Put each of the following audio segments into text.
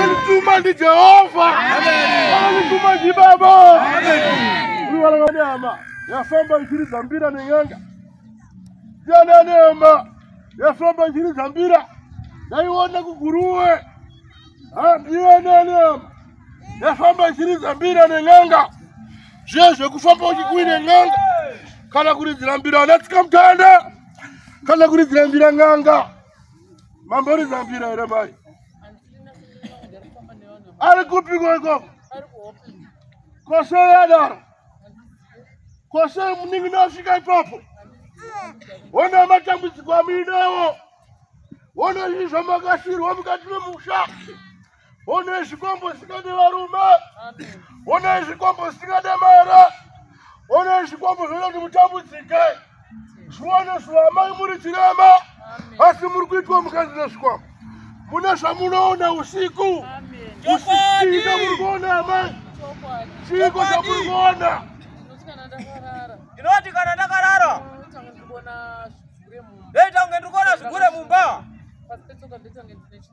Anituma ndi Jehova. Anituma ndi Baba. Uliwalanga nyama yafamba njiri za mbira neng'anga yana nema yafamba njiri za mbira ndaiona kuguruwe handiyana nema yafamba njiri za mbira neng'anga zviye zvekufamba uchikui neng'anga kana kuridzira mbira anatsika mutanda kana kuridzira mbira ng'anga mambori zambira here mai ari kupikwa ikoko kosei adaro kosei munin'ina asvika ipapo hona matambudziko amuinawo hona izvi zvamakasirwa mukati memusha Honai zvikombo zvisingade varume. Honai zvikombo zvisingade mara. Honai zvikombo zvinoita kuti mutambudzike. Zviwane zuva amai muri chirema. Asi muri kuitwa mukadzi nezvikombo. Mune zvamunoona usiku. Usiku muri kuona amai. Chiko chamuri kuona. Ndinoti kana ndakarara. Ndoita kunge ndiri kuona zvigure mumba.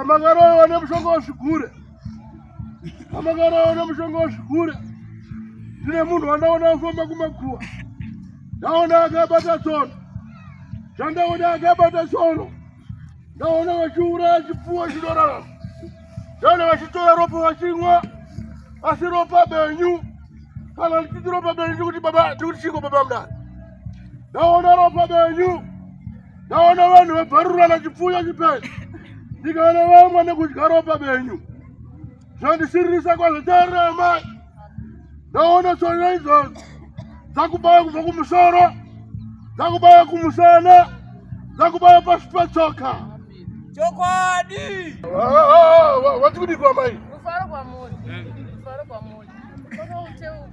amakarowa nemushonga wezvigure amakarowa nemushonga wezvigure ndine munhu wandaona afamba kumakuwa ndaona akabata tsono zvandaona akabata tsono ndaona vachiuraya chipfuwo chinorarama Dana vachitora ropa vachinwa asi ropa benyu kana ndichiti ropa benyu tikuti baba tikuti chiko baba mdani ndaona ropa benyu ndaona vanhu vabvarurana chipfuyo chipei ndikaona vamwe nekudya ropa benyu zvandisiririsa kwazvo tarira amai ndaona tsvanya izvozvo dzakubaya kubva kumusoro dzakubaya kumusana dzakubaya pasi patsoka chokwadi wati kudikwa mai kufara kwamuri kufara kwamuri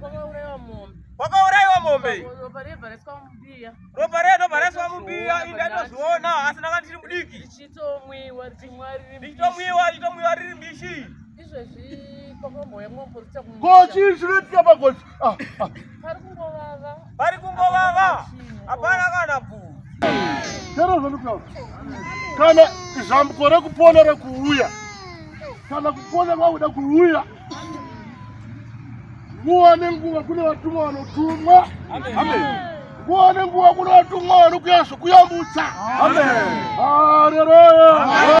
kwakauraiwa mombe kwakauraiwa mombe ropa redu bhareswa mubiya inda ndozviona asi ndanga ndiri mudiki richitomwiwa richitomwiwa riri mbishi ko chii chinoitika pagosi ah, ah. pari kungovava hapana kana bu chero zvandikutaura kana zambuko rekupona rekuuya kana kupona kwakuda kuuya nguva nenguva kune vatumwa vanotumwa nguva nenguva kune vatumwa vanokuya zvokuyambutsa haleroya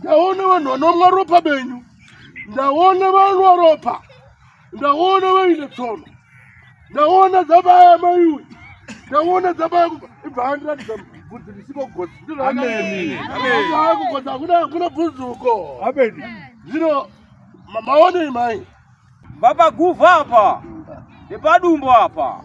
ndaona vanhu vanomwa ropa benyu ndaona vanwa ropa ndaona vaine tsono ndaona dzabaya maiwe ndaona dzabaya ibva andiratidza bvudzi risiko gozi kugozi hakuna bvudzi uko zvino maonei mai vapaguvha apa nepadumbu apa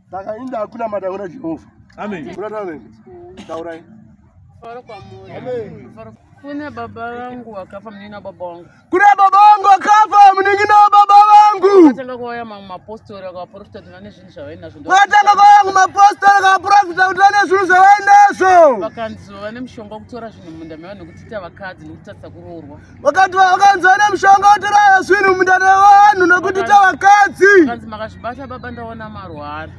saka ini ndakunamata kuna jehovha taurai kune baba vangu vakafa munini na baba wangu kune baba wangu vakafa munini na baba vangu vatanga kuauya mamwe mapostori akavaprofita kuti vane zvinhu zvavainazvo vatanga kuauya ku mapostori akavaprofita kuti vane zvinhu zvavainazvo vakanzi vane mushonga wekutora zvinhu munda mevanhu nekuti ita vakadzi nekutatisa kuroorwa vakati vakanzwa nemushonga wotoraya swinu mundare wevanhu nokuti tavakadzi vakanzi mukazvibata baba ndaona marwara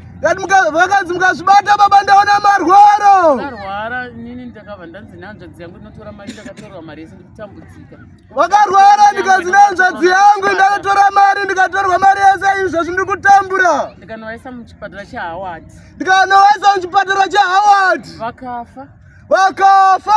vakanzi mukazvibata baba ndaona marwaro vakarwara nini ndakabva ndanzi nehanzvadzi yangu ndinotora mari ndakatorwa mari yese ndikutambudzika vakarwara ndikanzi nehanzvadzi yangu ndakatora mari ndikatorwa mari yese izvozvi ndiri kutambura ndikanovaisa muchipatara chehaward ndikanovaisa muchipatara chehaward vakafa vakafa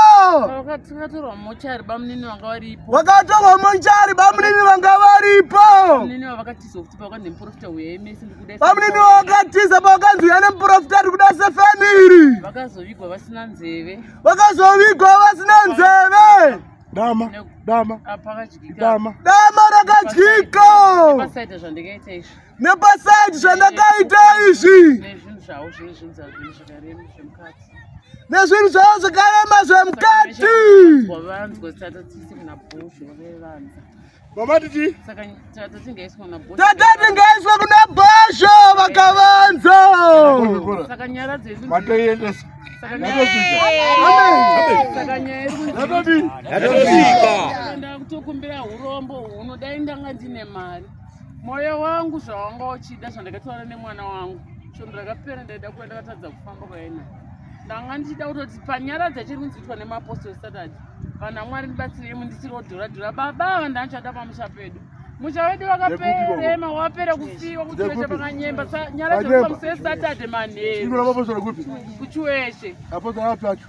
vakatorwa mochari bamunini vanga varipo vakatorwa mochari bamunini vanga varipo bamunini vakatiza kuti pavaka nemuprofita wemesi ndikuda bamunini vakatiza pavakanzi uya nemuprofita ari kuda sefamiri vakazovigwa vasina nzeve vakazovigwa vasina nzeve dama dama dama dama rakadyika pasaita zvandikaita izvi nepasaiti zvandakaita izvi nezvinhu zvavo zvakarema zvemukati tatatingaiswa kuna bhasho vakavanza kutokumbira urombo huno dai ndanga ndine mari Moyo wangu zvawanga uchida zvandakataura nemwana wangu svondo rakapera ndaida kuva ndakatadza kufamba kwaina ndanga ndichida kutoti panyaradza chiri kunzi itwa nemapostol saturday vana mwari ndibatsirei mundisiri wodhura dhura baba ava ndanichada pamusha pedu musha wedu wakaperema wapera kufiwa kuti weshe pakanyemba nyaradzo pamusei saturday manheru kuchiweshe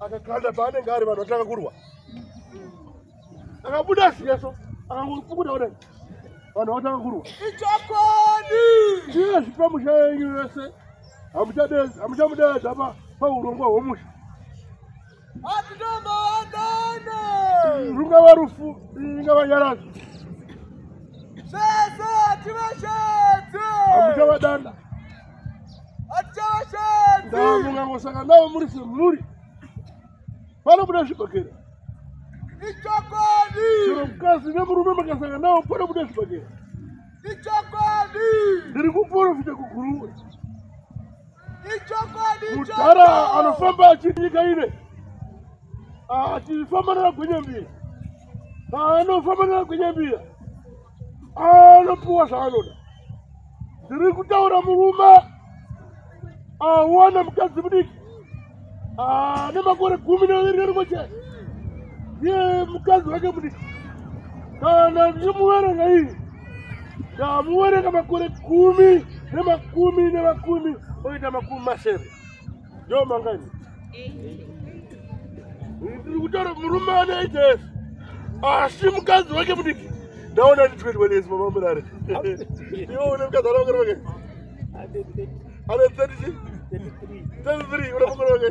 akakanda paanenge ari vanhu vatanga kurwa akabuda zviyeso akangopukuta kudai vanhu vatanga kurwa ichokwadi chiye zvipa musha yenyu yese hamuchamudeedza paurongwa hwomusha atinomaandana rungava rufu ingava nyarazi sese tivashedze hamuchavadana ndavamungangosanga navo muri semhuri panobuda zvibhakera ichokwadi chero mukadzi nemurume makasanga navo panobuda zvibhakera ichokwadi ndiri kuporofita kuguruwe ichokwadi mudhara anofamba achinyika ine achifamba ah, nana gwenyambira ah, anofamba nana gwenyambira anopiwa zvaanoda ndiri kutaura murume awana mukadzi mudiki ane makore gumi neviri nerimwe chete ndiye mukadzi wake mudiki kana ndichimuverenga iyi ndamuverenga makore gumi nemakumi nemakumi oita makumi masere Yo mangani. Ndiri kutaura murume ane ages. Asi mukadzi wake mudiki. Ndaona ndi 21 years mama murare. Yo une mukadzi ana makore wake. Ana 30. 33 una makore wake.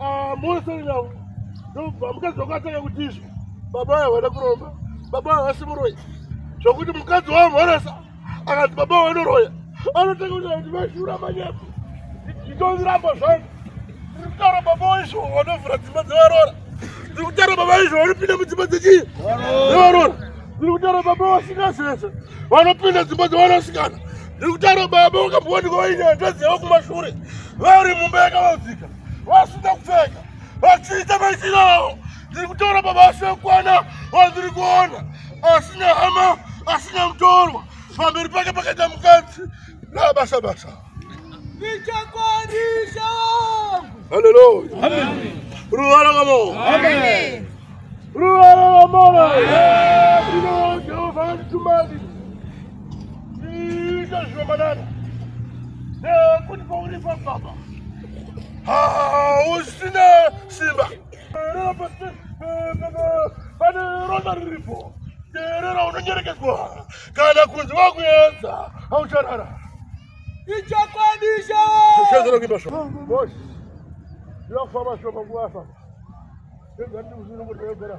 Ah, mosoinawo ndobva mukadzi wako atanga kuti izvo baba vayo havana kuromba baba vayo havasi muroyi zvokuti mukadzi wavo mhoresa akati baba vayo vanoroya anotanga kuti kuti vashura manyepo nditondiramba zvangu ndiri kutaura baba vayo izvo vanovhura dzimba dzevarora ndiri kutaura baba vayo izvo vanopinda mudzimba dzechii dzevarora ndiri kutaura baba vasikazese vanopinda dzimba dzevanasikana Ndiri kutaura baba wakambowanikwa vaine hanzvadzi yavo kumashure vari mumba yakavadzika vasina kupfeka vachiita maitiro avo ndiri kutaura baba asina kukwana vandiri kuona asina hama asina mutorwa pamberi pake pakaita mukadzi nabasa basa ndichakwanisa haleluya ruva rakamo ruva rakamona inojehovha vanditumani Ita zviromanana nekuti pauri pababa hausina simba pane ronda riripo terera unonyerekeswa kana kunzi vakuedza haucharara ichakwadisha zvichazira kuimba sho bosi ndakufamba sho panguva afamba ndegandikuzinomboteegera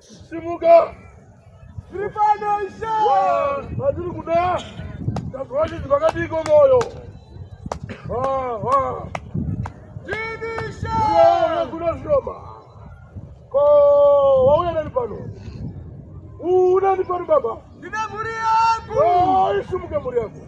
simuka tiri pano ishe vatiri kuda tazovachinzi vakadiko moyo kuno zviroma ko wauya nani pano unani pano baba ndine mhuri yangu isimuke mhuri yangu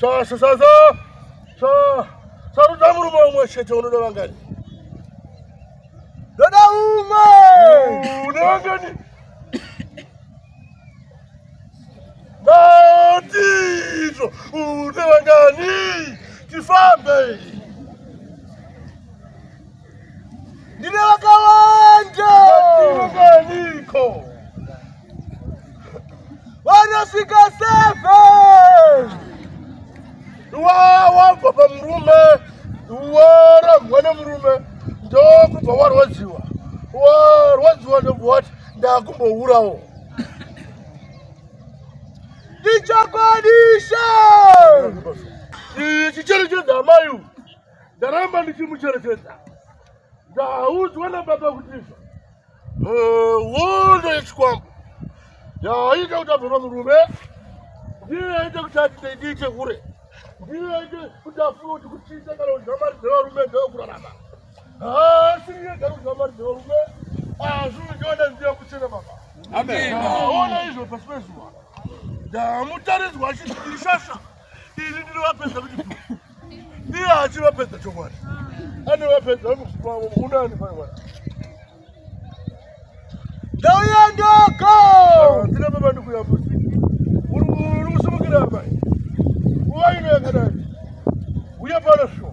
Sasa sasa. Sasa. Sasa tamu rumo umwe chete unoda vangani? Dada umwe. Unoda vangani? Natizo. Unoda vangani? Tifambe. ndine vakawanda vaniko vanosvika seven wawabva pamurume warambwa nemurume ndokubva warwadziwa warwadziwa ndobva wati ndakumbourawo ndichakwanisa ichi chiri chezamai uyu ndaramba ndichimucherechedza ndaudzwa nababa kuti hondo eh, yechikwambo yaaita kuti abvema murume ndiyo yaita kuti atite ndii chekure ndiyo yaita kuti afuna kuti kuchiita kana kudya mari dzevarume ndeyokurarama haasi yega kudya mari dzevarume azvinondiona ndiya kuchena baba ona izvo pasi pezuva ndamutaridzwa achidishasha Ini ndinovapedza kuti iye achivapedza chokwadi. Anovapedza vanokusupa vavo unani paya mwana. Ndauya ndoko. Ndina baba ndikuyambusa. Uri kusumukira apa. Uwa ino yakadai. Uya pano shuwa.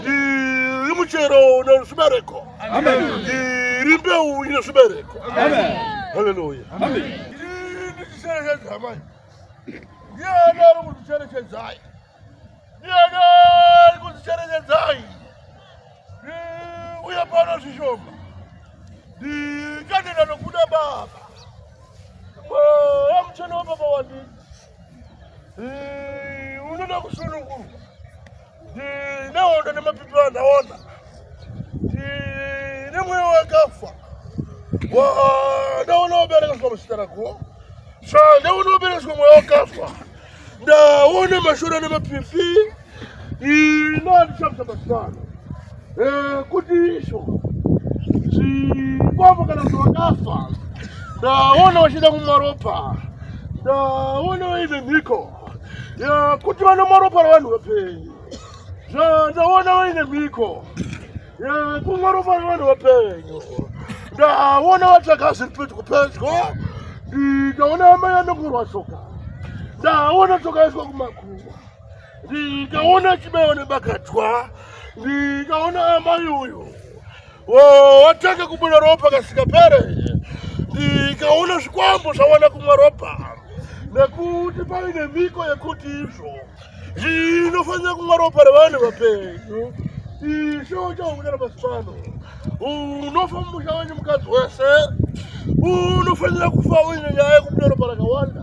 ndiri muchero une zvibereko ndiri mbeu ine zvibereko haleluya ndichicherechedza mai ndiani ari kundicherechedzai ndiani ari kundicherechedzai uye pano zvishoma ndikatenda nokuda baba mweya mucheno wababa wandii unoda kusunungurwa nehondo nemapipi vanhu aona nemweya wakafa ndaunoberekeswa muzita rako sa ndaunoberekeswa mweya wakafa ndaona mashura nemapipi Inani chapter masana. Eh kuti isho. Chikwambo kana kuti wakafa. Ndaona wachida kumwa ropa. Ndaona waine mhiko. Ya kuti vanomwa ropa ravanhu vapenyu. Zva ndaona waine mhiko. Ya kumwa ropa ravanhu vapenyu. Ndaona watsvaga zviri pedyo pedyo. Ndaona amai anongorwa shoka. Ndaona shoka yaiswa kumakuva. ndikaona chibayo nebakatwa ndikaona amai uyu watanga kubuda ropa kasikapere ndikaona zvikwambo zvawana kumwa ropa nekuti paine mhiko yekuti izvo zvinofanira kumwa ropa revanhu vapenyu isho chaukunyara masipano unofa mumusha wenyu mukadzi wese unofanira kufa uine nyaya yekubuda ropa rakawanda